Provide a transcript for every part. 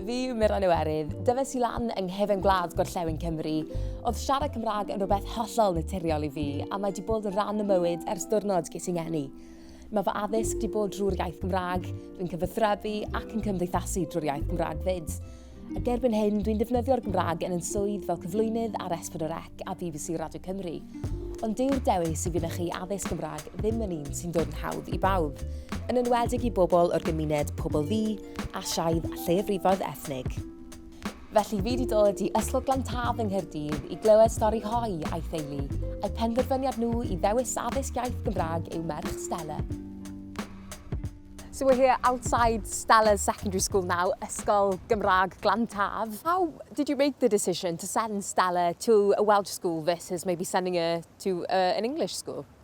Fi yw Meron Iwerydd. Dyfes i lan yng nghefn gwlad gorllewin Cymru. Oedd siarad Cymraeg yn rhywbeth hollol naturiol i fi, a mae wedi bod yn rhan y mywyd ers diwrnod ges i ngeni. Mae fy addysg wedi bod drwy'r iaith Gymraeg, dwi'n cyfathrebu ac yn cymdeithasu drwy'r iaith Gymraeg fyd. A gerbyn hyn, dwi'n defnyddio'r Gymraeg yn yn swydd fel cyflwynydd ar S4C a BBC Radio Cymru. Ond dyw'r dewis i fynychu addysg Gymraeg ddim yn un sy'n dod yn hawdd i bawb, yn enwedig i bobl o'r gymuned pobl fi, Asiaidd a lleiafrifoedd ethnig. Felly fi wedi dod i Ysgol Glantaf yng Nghaerdydd i glywed stori Hoi a'i theulu, a'i penderfyniad nhw i ddewis addysg iaith Gymraeg i'w merch Stella. So we're here outside Stella's secondary school now, Ysgol Gymraeg Glantaf. How did you make the decision to send Stella to a Welsh school versus maybe sending her to uh, an English school?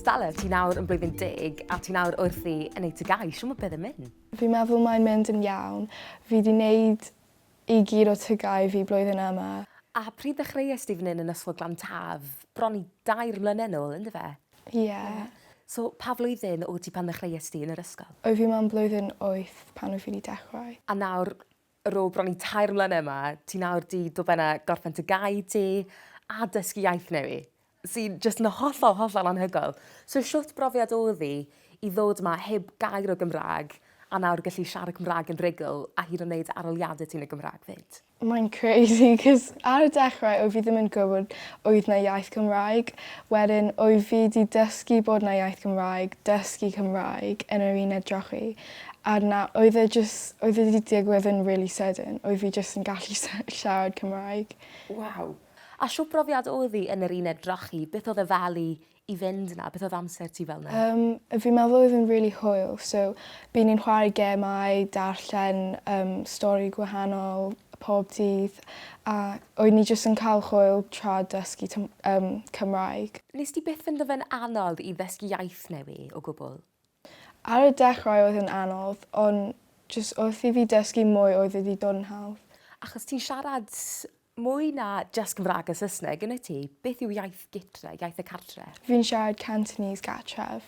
Stella, ti nawr yn blwyddyn deg a ti nawr wrthi yn ei tygau. Siw mae beth yn mynd? Fi'n meddwl mae'n mynd yn iawn. Fi wedi wneud i gyd o tygau fi blwyddyn yma. A pryd ddechreuais di fan hyn yn Ysgol Glan Taf? Bron i dair mlynedd nôl, yn dyfe? Ie. Yeah. So, pa flwyddyn o ti pan ddechreuais di yn yr ysgol? Oedd fi mewn blwyddyn wyth pan oedd fi wedi dechrau. A nawr, Ar ôl bron i tair mlynedd 'ma, ti nawr 'di dod ben a gorffen dy gae di a dysgu iaith newi, sy'n jyst yn hollol, hollol anhygoel. So shwt brofiad oedd hi i ddod 'ma heb gair o Gymraeg a nawr gallu siarad Cymraeg yn rhugl a hyd yn neud aroliade ti yn y Gymraeg 'fyd? Mae'n crazy 'c'os ar y dechrau oedd fi ddim yn gwybod oedd 'na iaith Cymraeg, wedyn oedd fi 'di dysgu bod 'na iaith Gymraeg, dysgu Cymraeg yn yr uned drochi. A na oedd e jys oedd e 'di digwydd yn rili sydyn. Oedd fi jyst yn gallu sy- siarad Cymraeg. Waw. A shwt brofiad odd 'i yn yr uned drochi? Beth odd e fel i i fynd 'na? Beth odd amser ti fel 'na? Yym fi'n meddwl oedd e'n rili hwyl so by' ni'n chware gemau darllen yym stori gwahanol pob dydd a oedd ni jyst yn ca'l hwyl tra dysgu Twm- yym Cymraeg. Nest ti byth ffindo fe'n anodd i ddysgu iaith newy' o gwbwl? Ar y dechrau oedd yn anodd, ond jyst wrth i fi dysgu mwy oedd wedi dod yn hawdd. Achos ti'n siarad mwy na jyst Cymraeg a Saesneg, yn wyt ti? Beth yw iaith gytre, iaith y cartre? Fi'n siarad Cantonese gartref,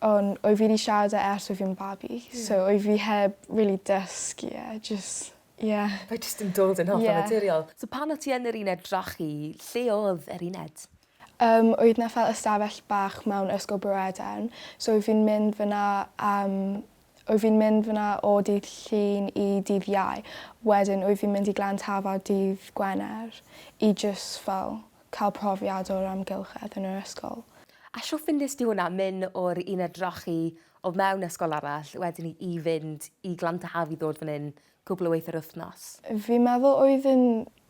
ond oedd fi 'di siarad e ers oedd fi'n babi, so oedd fi heb rili dysgu e, jyst, ie. Mae jyst yn dod yn hollol naturiol. So pan o' ti yn yr uned drochi, lle oedd yr uned? Yym oedd 'na fel ystafell bach mewn ysgol Brywerdaun so oedd fi'n mynd fynna am oedd fi'n mynd fynna o dydd Llun i dydd Iau wedyn oedd fi'n mynd i Glan Tafod dydd Gwener i jys fel ca'l profiad o'r amgylchedd yn yr ysgol. A shwt findest ti hwnna myn o'r uned drochi o fewn ysgol arall wedyn i i fynd i Glan Taf i ddod fan 'yn cwpl o weithiau'r wythnos. Fi'n meddwl oedd yn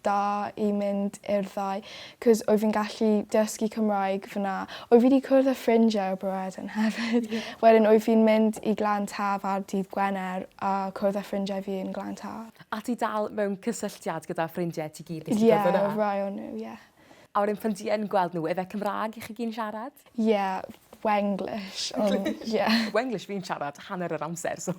da i mynd i'r ddau 'cos oedd fi'n gallu dysgu Cymraeg fan'na. Oedd fi 'di cwrdd â ffrindiau o Breredin hefyd. Wedyn oedd fi'n mynd i Glan Taf ar dydd Gwener a cwrdd â ffrindiau fi yn Glan Taf. A ti dal mewn cysylltiad gyda ffrindiau ti gyd nes ti cwrdd â nhw? Ie, rhai o nhw, ie. A wedyn pan ti yn gweld n'w yfe Cymra'g i chi gyn siarad? Ie Wenglish on- ie. Wenglish fi'n siarad hanner yr amser so.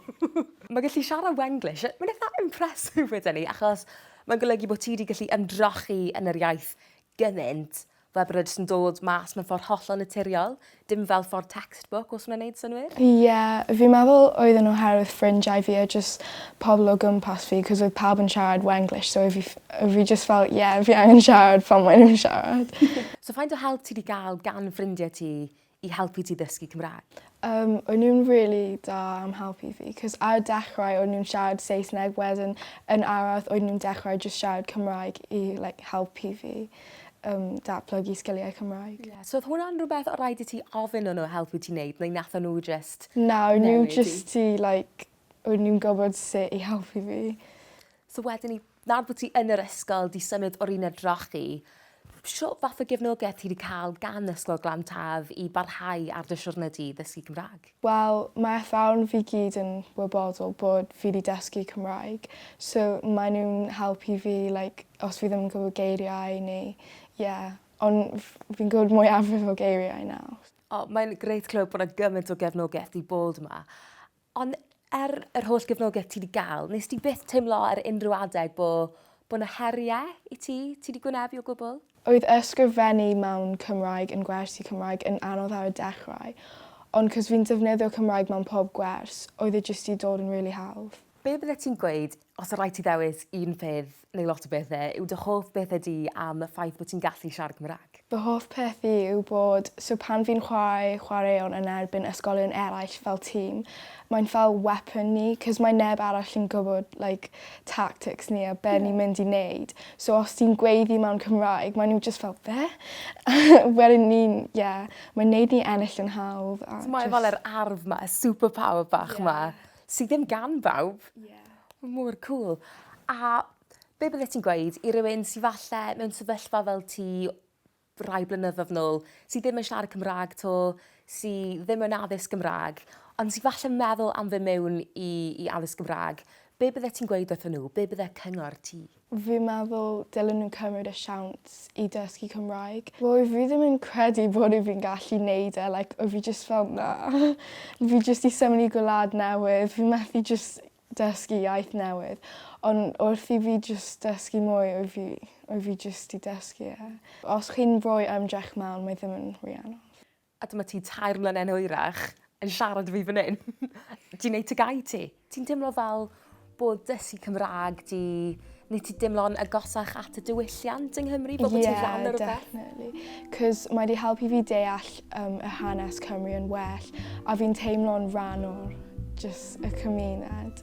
Ma' gallu siarad Wenglish yy ma'n itha impressive weden i achos ma'n golygu bo' ti 'di gallu ymdrochi yn yr iaith gymint fel bod e jyst yn dod mas mewn ffor hollol naturiol. Dim fel for textbook os mae'n neud synnwyr? Ie fi'n meddwl oedden n'w oherwydd ffrindiau fi a jyst pobol o gwmpas fi 'c'os oedd pawb yn siarad Wenglish so o' fi ff- o' fi jyst fel ie fi angen siarad pan mae nw'n siarad. So faint o help ti 'di ga'l gan ffrindie ti i helpu ti ddysgu Cymra'g? Yym o' nw'n rili da am helpu fi 'c'os ar y dechrau o' nw'n siarad Saesneg wedyn yn araf oedd nw'n dechrau jyst siarad Cymraeg i like helpu fi. yym datblygu sgiliau Cymraeg. Ie. So odd hwnna'n rwbeth o' raid i ti ofyn o n'w helpu ti neud neu natho n'w jyst... Na o'n n'w jyst ti like o'n nw'n gwbod su' i helpu fi. So wedyn 'ny nawr bo' ti yn yr ysgol 'di symud o'r uned drochi shwt fath o gefnogaeth ti 'di ca'l gan Ysgol Glan Taf i barhau ar dy siwrne di ddysgu Cymra'g? Wel, mae athrawon fi gyd yn wybodol bod fi 'di dysgu Cymraeg, so mae nhw'n helpu fi like os fi ddim yn gwybod geiriau neu ie, ond f- fi'n gwybod mwyafrif o geiriau nawr. O, mae'n grêt clywed bod 'na gymaint o gefnogaeth 'di bod 'ma. Ond er yr holl gefnogaeth ti 'di gael, nes ti byth teimlo ar unrhyw adeg bo' bo' 'na heriau i ti, ti 'di gwynebu o gwbl? Oedd ysgrifennu mewn Cymraeg yn gwers i Cymraeg yn anodd ar y dechrau, ond cos fi'n defnyddio Cymraeg mewn pob gwers, oedd e jyst 'di dod yn rili hawdd. Be byddet ti'n gweud, os o rai ti ddewis un peth neu lot o bethe, yw dy hoff bethe di am y ffaith bod ti'n gallu siarad Cymraeg? Fy hoff peth i yw bod, so pan fi'n chwarae chwaraeon yn erbyn ysgolion eraill fel tîm, Mae'n fel weapon ni 'c'os mae neb arall yn gwybod like tactics ni a be' ni'n mynd i neud so os ti'n gweiddi mewn Cymraeg mae n'w jyst fel be'? Wedyn ni'n ie mae'n neud ni ennill yn hawdd a jyst... So mae e fel yr arf 'ma y super power bach 'ma. Ie. Sy ddim gan bawb. Ie. Ma' mor cŵl. A be' byddet ti'n gweud i rywun sy falle mewn sefyllfa fel ti rai blynyddoedd nôl sy ddim yn siarad Cymraeg 'to, sy ddim yn addysg Gymraeg, ond sy falle meddwl am fy mewn i i addysg Gymraeg, be' byddet ti'n gweud wrthyn nhw, be' bydde cyngor ti? Fi'n meddwl dylen nhw cymryd y siawns i dysgu Cymraeg. Wel fi ddim yn credu bod i fi'n gallu neud e like o fi jyst fel na fi jyst 'di symud i gwlad newydd fi methu jyst dysgu iaith newydd on' wrth i fi jyst dysgu mwy wyf fi wyf fi jyst 'di dysgu e. Os chi'n rhoi ymdrech mewn mae ddim yn rhy anodd. A dyma ti tair mlyne yn hwyrach yn siarad i fi fan 'yn. Ti'n neud tŷ gau ti? Ti'n teimlo fel bod dysgu Cymrâg 'di Nid ti dimlo'n agosach at y diwylliant yng Nghymru bod yeah, ti'n rhan o'r rhywbeth? Ie, definitely. Cos mae wedi helpu fi deall um, y hanes Cymru yn well a fi'n teimlo'n rhan o'r just y cymuned.